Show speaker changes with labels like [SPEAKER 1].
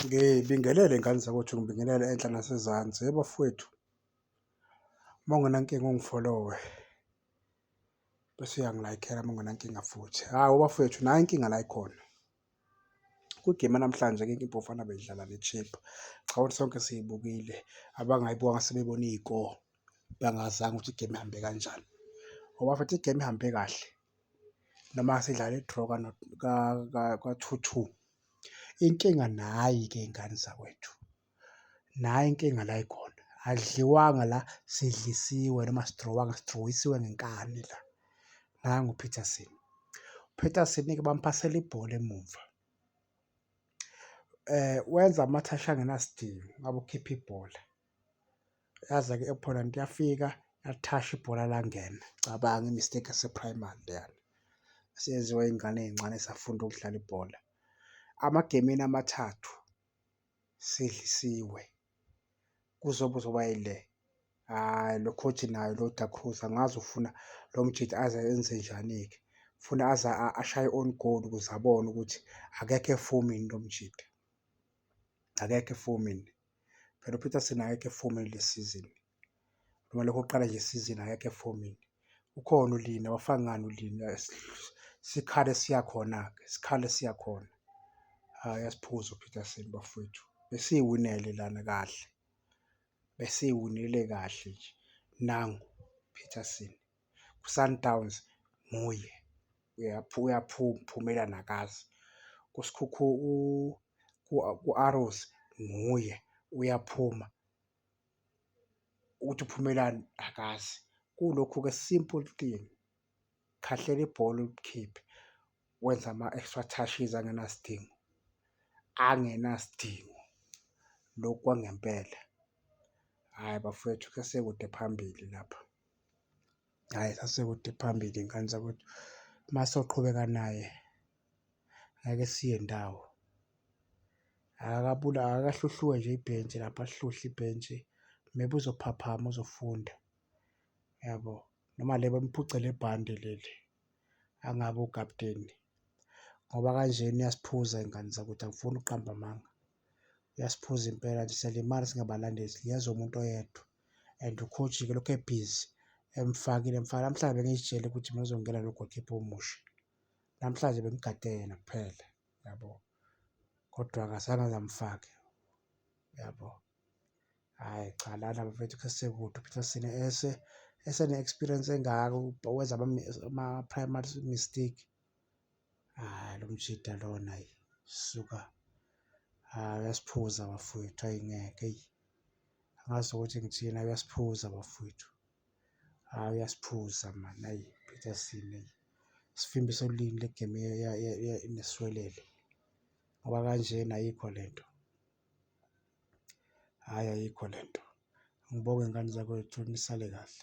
[SPEAKER 1] Ngibingelele ngane zakwethu, ngibingelele enhla nasezansi. Hhe bafwethu, uma ungenankinga ungifolowe bese uyangilayikhela uma ungenankinga futhi. Hhawu bafwethu nayi inkinga la ekhona, kwi-game yanamhlanje ke iBafana beyidlala ne-Chippa, cha ukuthi sonke siyibukile, abangayibukanga sebebona iy'koro bangazanga ukuthi i-game ihambe kanjani. Hho bafwethu i-game ihambe kahle. noma sidlala i-draw ka-two two. Inkinga nayi-ke iy'ngane zakwethu, nayi inkinga la ikhona, akudliwanga la, sidlisiwe noma asidrowanga, sidrowisiwe ngenkani la, nangu uPeterson. UPeterson-ke bamuphasela ibhola emumva, wenza amathasha angenasidingo, ngabe ukhipha ibhola. yaza ke opponent yafika yathasha ibhola langena cabanga imistake yaseprimary leyana eseyenziwa iy'ngane ey'ncane esafunda ukudlala ibhola amagemini amathathu sidlisiwe kuzobe uzoba yile hhayi lo coach naye lo Da Cruz angazi ufuna lo mjita aze enze njani-ke funa aze ashaye on goal ukuze abone ukuthi akekho efomini lo mjita akekho efomini. Phela uPeterson akekho efomini le sizini noma lokho kuqala nje isizini akekho efomini. Ukhona uLina wafaka ngani uLina sikhale siya khona-ke sikhale siya khona. Hhayi asiphuze uPeterson bafowethu besiyiwinele lana kahle besiyiwinele kahle nje nangu Peterson. kuSundowns nguye uyaphumela nakazi kuSikhukhu ku-Arrows nguye uyaphuma ukuthi uphumelani akazi. Kulokhu-ke simple thing, khahlela ibhola ulikhiphe wenza ama-extra touches angenasidingo, angenasidingo lokhu kwangempela. Hhayi bafwethu kusekude phambili lapha. hhayi sasekude phambili ngane zakwethu uma soqhubeka naye ngeke siye ndawo akakabula akakahluhluwe nje ibhentshi lapha hluhle ibhentshi maybe uzophaphama uzofunda yabo noma le bamphucele ibhande leli angabe ukapteni ngoba kanjena iyasiphuza ingane zakuthi angifuni ukuqamba amanga uyasiphuza impela nje siyalimala singabalandeli ngiyezwa umuntu oyedwa and ukhojike lokhu ebhizi emfakile mfana namhlanje bengizitshele ukuthi mina uzongena lo goalkeeper omusha namhlanje bengigade yena kuphela yabo kodwa akazange ngamfake yabo hhayi cha lana bafethu khe sekude uphitha sine ese esene-experience engaka wenza ama-primary mistake hayi lo mjida lona yi suka hayi uyasiphuza bafowethu ayi ngeke eyi angazi ukuthi ngithina uyasiphuza bafowethu hayi uyasiphuza mani ayi peterson eyi sifimbi solini legame neswelele ngoba kanjena ayikho le nto hhayi ayikho le nto ngibonge ngane zakwethu nisale kahle